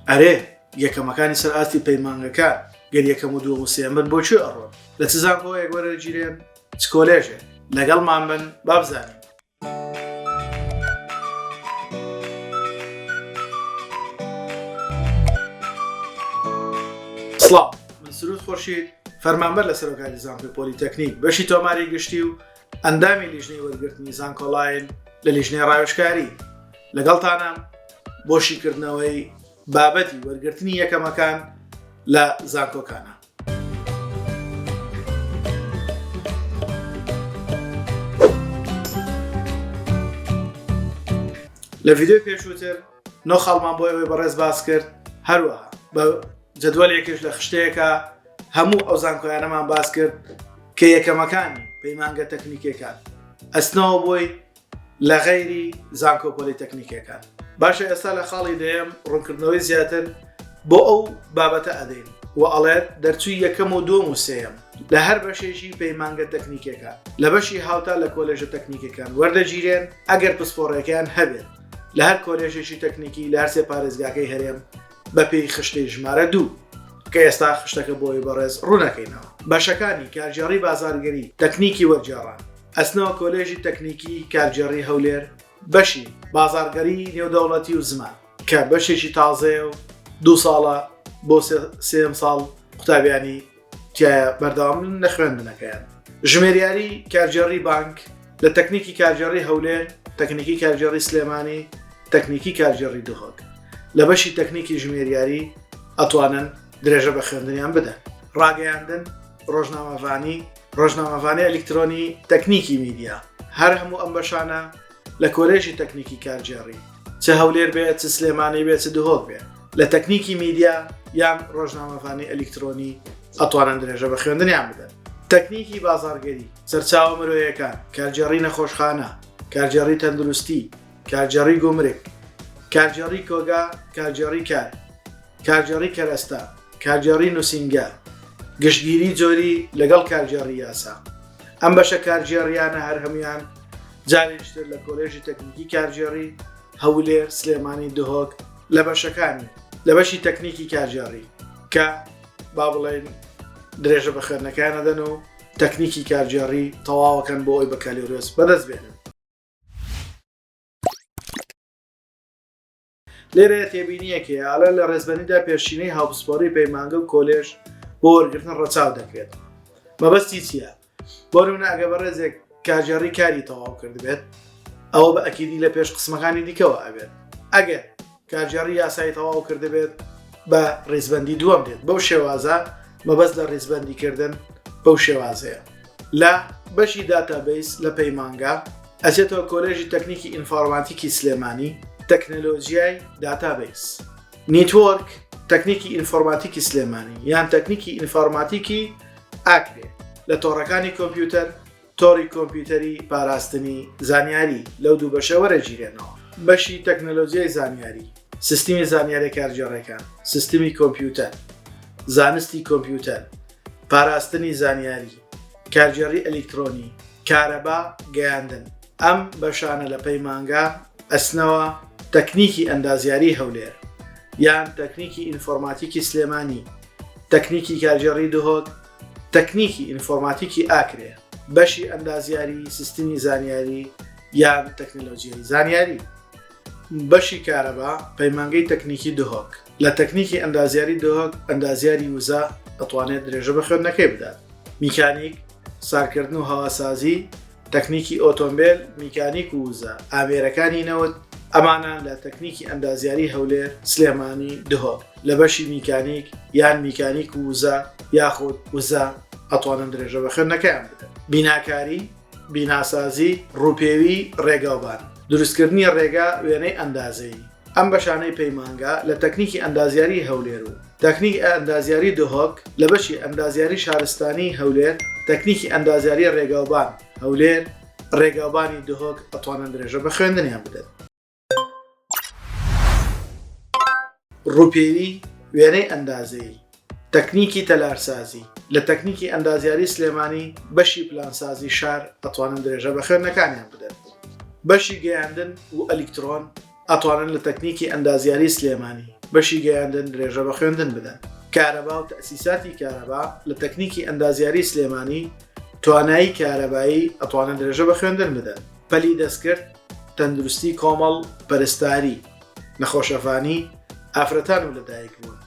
ئەرێ یەکەمەکانی سەر ئاستی پەیمانگەکان گەر یەکەم و دووەم و سێمبن بۆ چێ ئەڕۆن لە چ زانکۆیەک وەرەگیرێن چ کۆلێژێ لەگەڵمان بن بابزانین سڵاو من سرود خۆشید فەرمانبەر لە سەرۆکاری زانکۆی پۆلیتەکنیک بەشی تۆماری گشتی و ئەندامی لیژنەی وەرگرتنی زانکۆڵاین لە لیژنەی ڕاوشکاری لەگەڵتانە بۆ شیکردنەوەی بابەتی وەرگرتنی یەکەمەکان لە زانکۆکانە لە ڤیددیو پێشووتر نۆ خاڵمان بۆ ئەوەی بەڕێز باس کرد هەروە بە جدوەلێکش لە خشتەیەەکە هەموو ئەو زانکۆیانەمان باس کرد کە یەکەمەکانی پەیمانگە تەکنیکەکان ئەسنەوە بۆی لە غەیری زانکۆپۆلی تەکنیکەکان باشە ئێستا لە خاڵی دەیەم ڕوونکردنەوەی زیاتر بۆ ئەو بابەتە ئەدەین و ئەڵێت دەرچووی یەکەم و دوم و سێم لە هەر بەشێژی پەیمانگە تەکنیکەکە لە بەشی هاوتا لە کۆلێژە تەکنیکەکان وەردەگیرێن ئەگەر پسپۆڕەکەیان هەبێت لە هەر کۆلێژێکی تەکنیکی لە هەرسێ پارێزگاکەی هەرێم بەپێی خشتەی ژمارە دوو کە ئێستا خشتەکە بۆی بەڕێز ڕوونەکەینەوە بەشەکانی کارگێڕی بازارگەری تەکنیکی وەرجێڕان ئەسنەوە کۆلێژی تەکنیکی کارگێڕی هەولێر بەشی بازارگەری نێودەوڵەتی و زمان کە بەشێکی تازەیە و دوو ساڵە بۆ سێم ساڵ قوتابیانی تایە بەردەوامن لە خوێندنەکەیان ژمێریاری کارگێڕی بانک لە تەکنیکی کارگێڕی هەولێر تەکنیکی کارگێڕی سلێمانی تەکنیکی کارگێڕی دهۆک لە بەشی تەکنیکی ژمێریاری ئەتوانن درێژە بە خوێندنیان بدەن ڕاگەیاندن ڕۆژنامەڤانی ڕۆژنامەڤانەی ئەلکترۆنی تەکنیکی میدیا هەر هەموو ئەم بەشانە لە کۆلێژی تەکنیکی کارگێڕی چ هەولێر بێ چ سلێمانی بێ چ دهۆک بێ لە تەکنیکی میدیا یان ڕۆژنامەفانی ئەلیکترۆنی ئەتوانن درێژە بە خوێندنیان بدەن تەکنیکی بازارگەری سەرچاوە مرۆیەکان کارگێڕی نەخۆشخانە کارگێڕی تەندروستی کارگێڕی گومرک کارگێڕی کۆگا کارگێڕی کار کارگێڕی کەرەستە، کارگێڕی نووسینگە، گشتگیری جۆری لەگەڵ کارگێڕی یاسا. ئەم بەشە کارگێڕیانە هەر هەموان جارێکتر لە کۆلێژی تەکنیکی کارگێڕی هەولێر سلێمانی دهۆک لە بەشەکانی لە بەشی تەکنیکی کارگێڕی کە با بڵێن درێژە بە خوێندنەکان نەدەن و تەکنیکی کارگێڕی تەواوەکەن بۆ ئەوی بەکالیۆرۆس بەدەست بێنن لێرەیە تێبینییەک هەیە، ئالان لە ڕێزبەندیدا پێشینەی هاوپسپۆڕی پەیمانگە و کۆلێژ بۆ وەرگرتن ڕەچاو دەکرێت. مەبەستی چییە؟ بۆ نموونە ئەگەر بەڕێزێک کاژێڕی کاری تەواو کردبێت، ئەوە بە ئەکیدی لە پێش قسمەکانی دیکەوە ئەبێت. ئەگەر کارگێڕی یاسایی تەواو کردبێت، بە ڕیزبەندی دووەم دێت. بەو شێوازە مەبەست لە ڕیزبەندی کردن بەو شێوازەیە لە بەشی داتابیس لە پەیمانگا ئەچێتەوە کۆلێژی تەکنیکی ئینفۆرماتیکی سلێمانی تەکنەلۆژیای داتابیس نیتۆرک تەکنیکی ئینفۆرماتیکی سلێمانی یان تەکنیکی ئینفۆرماتیکی ئاکرێ لە تۆڕەکانی کۆمپیوتەر تۆڕی کۆمپیوتەری پاراستنی زانیاری لەو دوو بەشە وەرەگیرێنەوە. بەشی تەکنەلۆجیای زانیاری، سیستمی زانیاریە کارگێڕەکان، سیستمی کۆمپیوتەر، زانستی کۆمپیوتەر، پاراستنی زانیاری، کارگێڕی ئەلیکترۆنی، کارەبا، گەیاندن. ئەم بەشانە لە پەیمانگا ئەچنەوە تەکنیکی ئەندازیاری هەولێر یان تەکنیکی ئینفۆرماتیکی سلێمانی، تەکنیکی کارگێڕی دهۆک، تەکنیکی ئینفۆرماتیکی ئاکرێ بەشی ئەندازیاری سیستمی زانیاری یان تەکنەلۆجیای زانیاری بەشی کارەبا پەیمانگەی تەکنیکی دهۆک لە تەکنیکی ئەندازیاری دهۆک ئەندازیاری وزە ئەتوانێت درێژە بە خوێندنەکەی بدات میکانیک سارکردن و هەواسازی تەکنیکی ئۆتۆمبێل، میکانیک و وزە، ئامێرەکانی نەوت، ئەمانە لە تەکنیکی ئەندازیاری هەولێر، سلێمانی، دهۆک لە بەشی میکانیک یان میکانیک و وزە یاخود وزە ئەتوانن درێژە بە خوێندنەکەیان بدەن. بیناکاری، بیناسازی، ڕووپێوی ڕێگاوبان، دروستکردنی ڕێگا وێنەی ئەندازەیی، ئەم بەشانەی پەیمانگا لە تەکنیکی ئەندازیاری هەولێر و تەکنیک ئەندازیاری دهۆک لە بەشی ئەندازیاری شارستانی هەولێر تەکنیکی ئەندازیاری ڕێگاوبان هەولێر ڕێگاوبانی دهۆک ئەتوانن درێژە بە خوێندنیان بدەن. ڕووپێوی وێنەی ئەندازەیی تەکنیکی تەلارسازی، لە تەکنیکی ئەندازیاری سلێمانی بەشی پلانسازی شار ئەتوانن درێژە بە خوێندنەکانیان بدەن. بەشی گەیاندن و ئەلیکترۆن ئەتوانن لە تەکنیکی ئەندازیاری سلێمانی بەشی گەیاندن درێژە بە خوێندن بدەن. کارەبا و تەئسیساتی کارەبا، لە تەکنیکی ئەندازیاری سلێمانی توانایی کارەبایی ئەتوانن درێژە بە خوێندن بدەن. پەلی دەستکرد، تەندروستی کۆمەڵ پەرستاری. نەخۆشەڤانی، ئافرەتان و لەدایکبوون،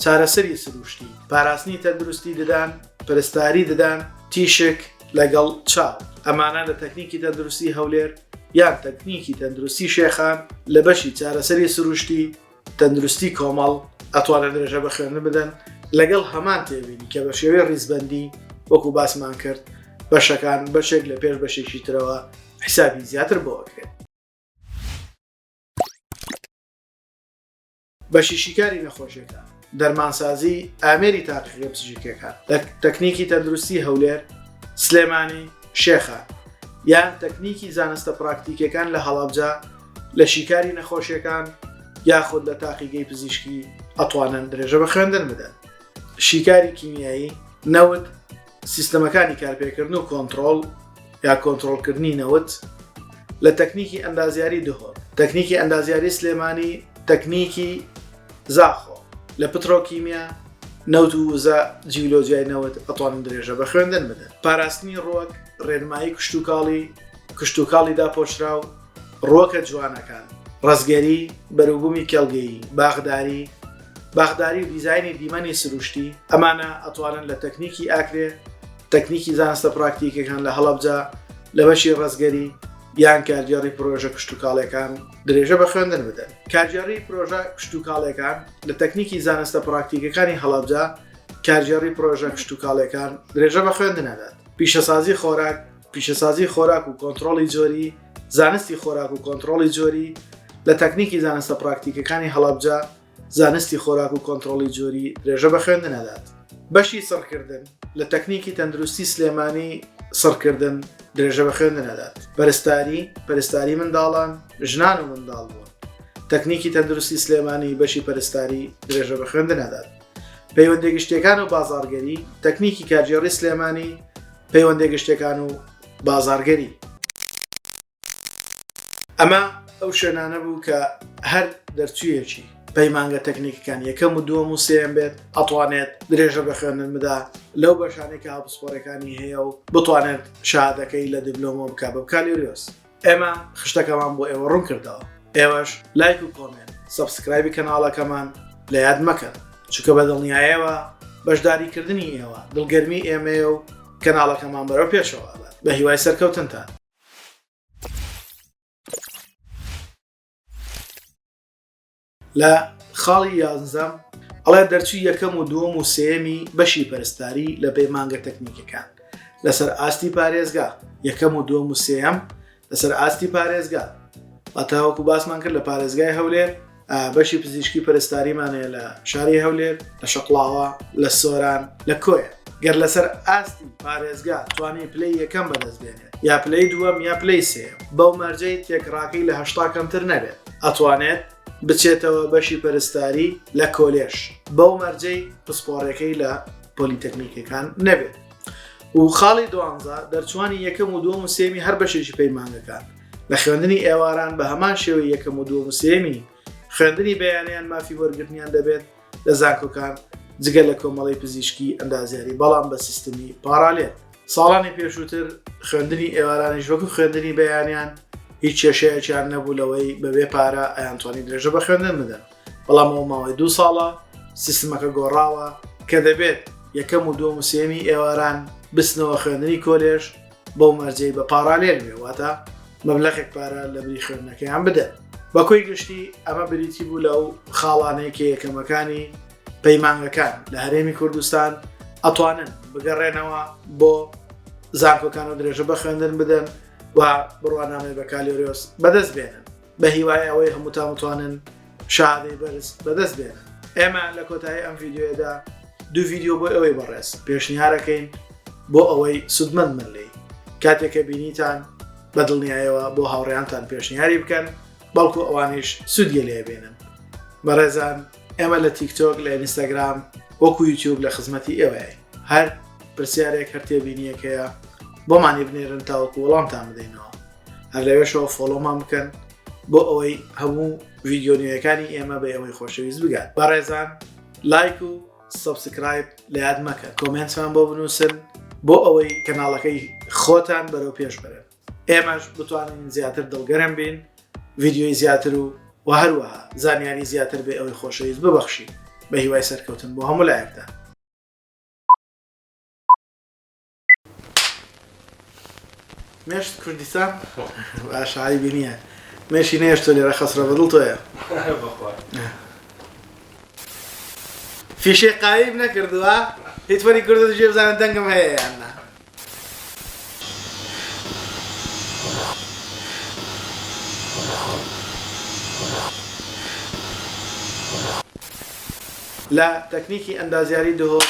چارەسەری سروشتی، پاراستنی تەندروستی ددان، پەرستاری ددان، تیشک لەگەڵ چاو، ئەمانە لە تەکنیکی تەندروستی هەولێر یان تەکنیکی تەندروستی شێخان لە بەشی چارەسەری سروشتی تەندروستی کۆمەڵ ئەتوانن درێژە بە خوێندن بدەن لەگەڵ هەمان تێبینی کە بە شێوەی ڕیزبەندی وەکو باسمان کرد بەشەکان بەشێک لە پێش بەشێکی ترەوە حیسابی زیاتر بۆ ئەکرێت. بەشی شیکاری نەخۆشیەکان دەرمانسازی ئامێری تاقیقی پزیشکەکان تەکنیکی تەندروستی هەولێر سلێمانی شێخە یان تەکنیکی زانستە پراکتیکەکان لە هەڵابجا لە شیکاری نەخۆشیەکان یاخود لە تاقیگەی پزیشکی ئەتوانن درێژە بە خوێندن بدەن شیکاری کیمیایی نەوت سیستەمەکانی کارپێکردن و کۆنتترۆل یا کۆنتترۆلکردنی نەوت لە تەکنیکی ئەندازیاری دهۆر تەکنیکی ئەندازیاری سلێمانی تەکنیکی زاخۆ لە پترۆکیمیا نەوت و وزە جیولۆجیای نەوت ئەتوانن درێژە بە خوێندن بدەن پاراستنی ڕوەک ڕێنمایی کشتتوکاڵی کشتتوکاڵی داپۆشراو ڕووەکە جوانەکان، ڕەزگەری، بەروبوومی کێڵگەیی، باخداری، باخداری و دیزاینی دیمەنی سروشتی، ئەمانە ئەتوانن لە تەکنیکی ئاکرێ، تەکنیکی زانستە پراکتیکیەکان لە هەڵەبجە لە بەشی ڕەزگەری یان کارگێڕی پرۆژە کشتوکاڵیەکان درێژە بە خوێندن بدەن. کارگێڕی پرۆژە کشتوکاڵیەکان لە تەکنیکی زانستە پراکتیکەکانی هەڵەبجە کارگێڕی پرۆژە کشتوکاڵیەکان درێژە بە خوێندن ئەدات. پیشەسازی خۆراک پیشەسازی خۆراک و کۆنتڕۆڵی جۆری، زانستی خۆراک و کۆنتڕۆڵی جۆری، لە تەکنیکی زانستە پراکتیکەکانی هەڵەبجە، زانستی خۆراک و کۆنتڕۆڵی جۆری درێژە بە خوێندن ئەدات. بەشی سڕکردن، لە تەکنیکی تەندروستی سلێمانی سڕکردن درێژە بە خوێندن ئەدات. پەرستاری، پەرستاری منداڵان، ژنان و منداڵبوون، تەکنیکی تەندروستی سلێمانی بەشی پەرستاری درێژە بە خوێندن ئەدات. پەیوەندیە گشتیەکان و بازاڕگەری، تەکنیکی کارگێڕی سلێمانی، پەیوەندیە گشتیەکان و بازاڕگەری. ئەمە ئەو شوێنانە بوو کە هەر دەرچوویەکی پەیمانگە تەکنیکەکان یەکەم و دووەم و سێم بێت ئەتوانێت درێژە بە خوێندن بدا لەو بەشانێک کە هاوپسپۆرەکانی هەیە و بتوانێت شادەکەی لە دیبلۆمۆ بکە بە بکالۆریۆس ئێمە خشتەکەمان بۆ ئێوە ڕوون کردەوە ئێوەش لایک و کۆمێنت سبسکرایبی کەناڵەکەمان لە یاد مەکەن چکە بە دڵنیایەوە بەشداریکردنی ئێوە دڵگەرمی ئێمەیە و کەناڵەکەمان بەرەو پێشەوە بە هیوای سەرکەوتنتان لە خاڵی یازەم ئەڵێ دەرچوی یەکەم و دووەم و سێمی بەشی پەرستاری لە پەیمانگە تەکنیکەکان لەسەر ئاستی پارێزگا یەکەم و دووەم و سێم لەسەر ئاستی پارێزگا ئەتاوەکو باسمان کرد لە پارێزگای هەولێر بەشی پزیشکی پەرستاریمانەیە لە شاری هەولێر لە شەقڵاوە لە سۆران لە کۆیە گەر لەسەر ئاستی پارێزگا توانانی پلی یەکەم بەدەستێنێ یا پلەی دووەم یا پلەی سێم بەو مەرجەی تێکڕاکەی لە هەشتا کەمتر نەبێت ئەتوانێت بچێتەوە بەشی پەرستاری لە کۆلێش بەو مەرجەی پسپۆڕەکەی لە پۆلیتەکنیکەکان نەبێت و خاڵی دوانزە دەرچوانی یەکەم و دووەم و سێمی هەر بەشێکی پەیمانەکان لە خوێندنی ئێواران بە هەمان شێوەی یەکەم و دووەم و سێمی خوێندنی بەیانیان مافی وەرگرتنیان دەبێت لە زانکۆکان جگە لە کۆمەڵی پزیشکی ئەندازیاری بەڵام بە سیستمی پارالێت ساڵانی پێشووتر خوێندنی ئێوارانیش وەکو خوێندنی بەیانیان هیچ کێشەیەکیان نەبوو لەوەی بەبێ پارە ئەیانتوانی درێژە بە خوێندن بدەن بەڵام ئەو ماوەی دوو ساڵە سیستمەکە گۆڕاوە کە دەبێت یەکەم و دووەم و سێمی ئێواران بسنەوە خوێندنی کۆلێژ بەو مەرجەی بە پاڕالێل بێ واتە مەبلەخێک پارە لە بری خوێندنەکەیان بدەن بەکۆی گشتی ئەمە بریتی بوو لەو خاڵانەیە کە یەکەمەکانی پەیمانگەکان لە هەرێمی کوردستان ئەتوانن بگەڕێنەوە بۆ زانکۆکان و درێژە بە خوێندن بدەن و بڕوانامەی بەکالیۆریۆس بەدەست بێنن بە هیوای ئەوەی هەمووتان بتوانن شادەی بەرز بەدەست بێنن ئێمە لە کۆتایی ئەم ڤیددیوەدا دوو ڤیددیو بۆ ئەوەی بەڕێز پێشنیارەکەین بۆ ئەوەی سودمەند من لی کاتێکە بینیتان بە دڵنیایەوە بۆ هاوڕیانتان پێشنیاری بکەن بەڵکو ئەوانیش سوودگە لێ بێنن بەڕێزان ئێمە لە تیکتۆک لە ئینستاگرام وەکو یوتیوب لە خزمەتی ئێوەیە هەر پرسیارێک هەر تێبینیەکەیە بۆمانی بنێرن تاوەکو وەڵامتان بدەینەوە هەر لەوێشەوە فۆلۆمان بکەن بۆ ئەوەی هەموو ویددیۆنیەکانی ئێمە بە ئەوەی خۆشەویست بگات بەڕێزان لایک و سبسکرایب لە یاد مەکە کۆمنتمان بۆ بنووسن بۆ ئەوەی کەناڵەکەی خۆتان بەرەو پێش بەرن ئێمەش بتوانین زیاتر دڵگەرم بین ویددیۆی زیاتر و و هەروەها زانیاری زیاتر بێ ئەوەی خۆشەویست ببەخشی بە هیوای سەرکەوتن بۆ هەموو لایەکدا مێشت کوردیسان باش عیبی نییە مێشی نێشتۆ لێرە خەسرە بە دڵ تۆیە فیشەی قایم نەکردووە هیچ وەری کردو دژێ بزانە دەنگم هەیە یاننا لە تەکنیکی ئەندازیاری دهۆک